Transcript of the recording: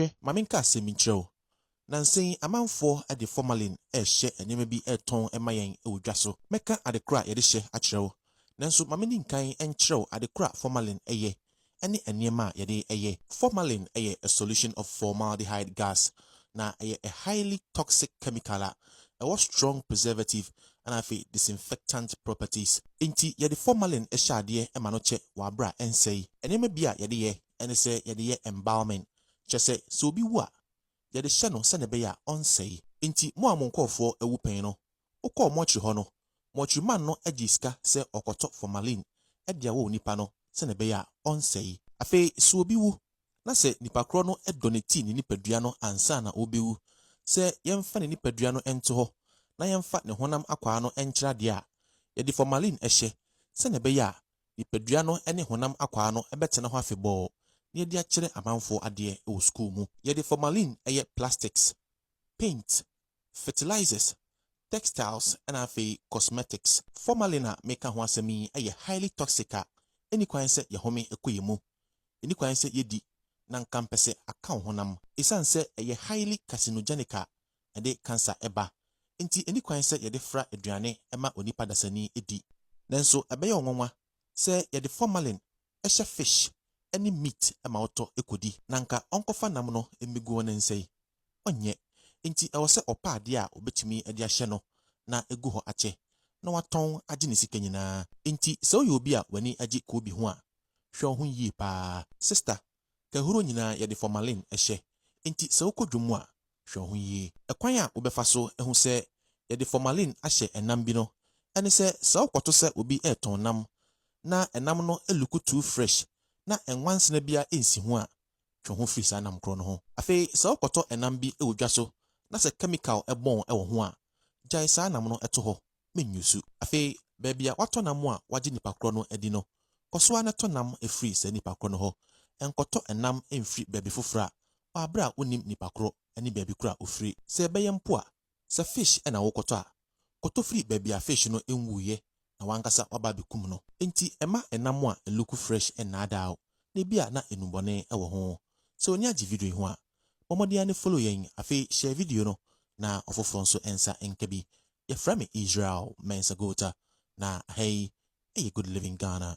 Hwɛ, ma menka asɛm bi nkyerɛ wo. Nnansa yi, amanfoɔ de formalin rehyɛ nneɛma bi retɔn ma yɛn wɔ dwa so. Mɛka ade koro a yɛde hyɛ akyerɛ wo. Nanso ma menni nkan nkyerɛ wo ade koro a formalin yɛ ne nneɛma a yɛde yɛ. Formalin yɛ a solution of formaldehyde gas, na ɛyɛ a highly toxic chemical a ɛwɔ strong preservative na afei disinfectant properties. Enti yɛde formalin hyɛ adeɛ ma no kyɛ w'abere a ɛnsɛe. Nneɛma bi a yɛde yɛ, ɛne sɛ yɛde yɛ embalming, kyerɛ sɛ, sɛ obi wu a, yɛde hyɛ no sɛnea ɛbɛyɛ a ɔrensɛe. Enti mo a mo nkurɔfoɔ awu pɛn no, wokɔɔ mortuary hɔ no, mortuary man no gyee sika sɛ ɔkɔtɔ formalin de awɔ onipa no sɛnea ɛbɛyɛ a ɔrensɛe. Afei, sɛ obi wu, na sɛ nipa korɔ no donetee ne nipadua no ansa na ɔrebɛwu sɛ yɛmfa ne nipadua no nto hɔ na yɛmfa ne honam akwaa no nkyerɛ adeɛ a, yɛde formalin hyɛ sɛnea ɛbɛyɛ a Nipadua no ne honam akwaa no bɛtena hɔ afebɔɔ na yɛde akyerɛ amanfoɔ adeɛ wɔ sukuu mu. Yɛde formalin yɛ plastics, paint, fertilizers, textiles na afei cosmetics. Formalin a meka ho asɛm yi yɛ highly toxic a ɛnni kwan sɛ yɛhome kɔ yɛn mu. Ɛnni kwan sɛ yɛdi na nka mpɛ sɛ aka wo honam. Ɛsiane sɛ ɛyɛ highly carcinogenic a ɛde kansa ba. Enti enni kwan sɛ yɛde fra aduane ma onipa dasani di. Nanso ɛbɛyɛ wo nwonwa sɛ yɛde formalin hyɛ fish ne meat ma ɔtɔ kodi, na anka ɔnkɔfa nam no mmegu wo ne nsa yi? Ɔnyɛ. Enti ɛwɔ sɛ ɔpɛ ade a obetumi de ahyɛ no na egu hɔ akyɛ, na watɔn agye ne sika nyinaa. Enti sɛ woyɛ obi a w'ani gye koobi ho a, hwɛ wo ho yie paa. Sista, Kahuro nyinaa yɛde formalin hyɛ, enti sɛ wokɔ dwom mu a, hwɛ wo ho yie. Ɛkwan a wobɛfa so ahu sɛ yɛde formalin ahyɛ ɛnam bi no ne sɛ, sɛ wokɔto sɛ obi retɔn nam na ɛnam no luku too fresh na nwansena biara nsi ho a, twe wo ho firi saa nam korɔ no ho. Afei sɛ wokɔtɔ ɛnam bi wɔ dwa so na sɛ kɛmikal bɔn wɔ ho a, gyae saa nam no to hɔ. menyusu. Afei baabi a wɔatɔ nam a wɔagye nnipa korɔ no adi no, kɔ so ara tɔ nam firi saa nnipa korɔ no hɔ. Nkɔtɔ nam mfiri baabi foforɔ a wɔabrɛ a wonnim nnipa korɔ ne baabi korɔ a ɔfiri. Sɛ ɛbɛyɛ mpo a, sɛ fish na worekɔtɔ a, kɔtɔ firi baabi a fish no nwuiɛ na w'ankasa woaba abɛkum no. Enti mma nam a ɛluku fresh nnaadaa wo, na ebia na nnubɔne wɔ ho. Sɛ w'ani agye video yi ho a, bɔ mmɔden ara ne follow yɛn. Afei share video no na ɔfoforɔ nso nsa nka bi. Yɛfrɛ me Israel Mensah Gota, na ha yi yɛ Good Living Ghana.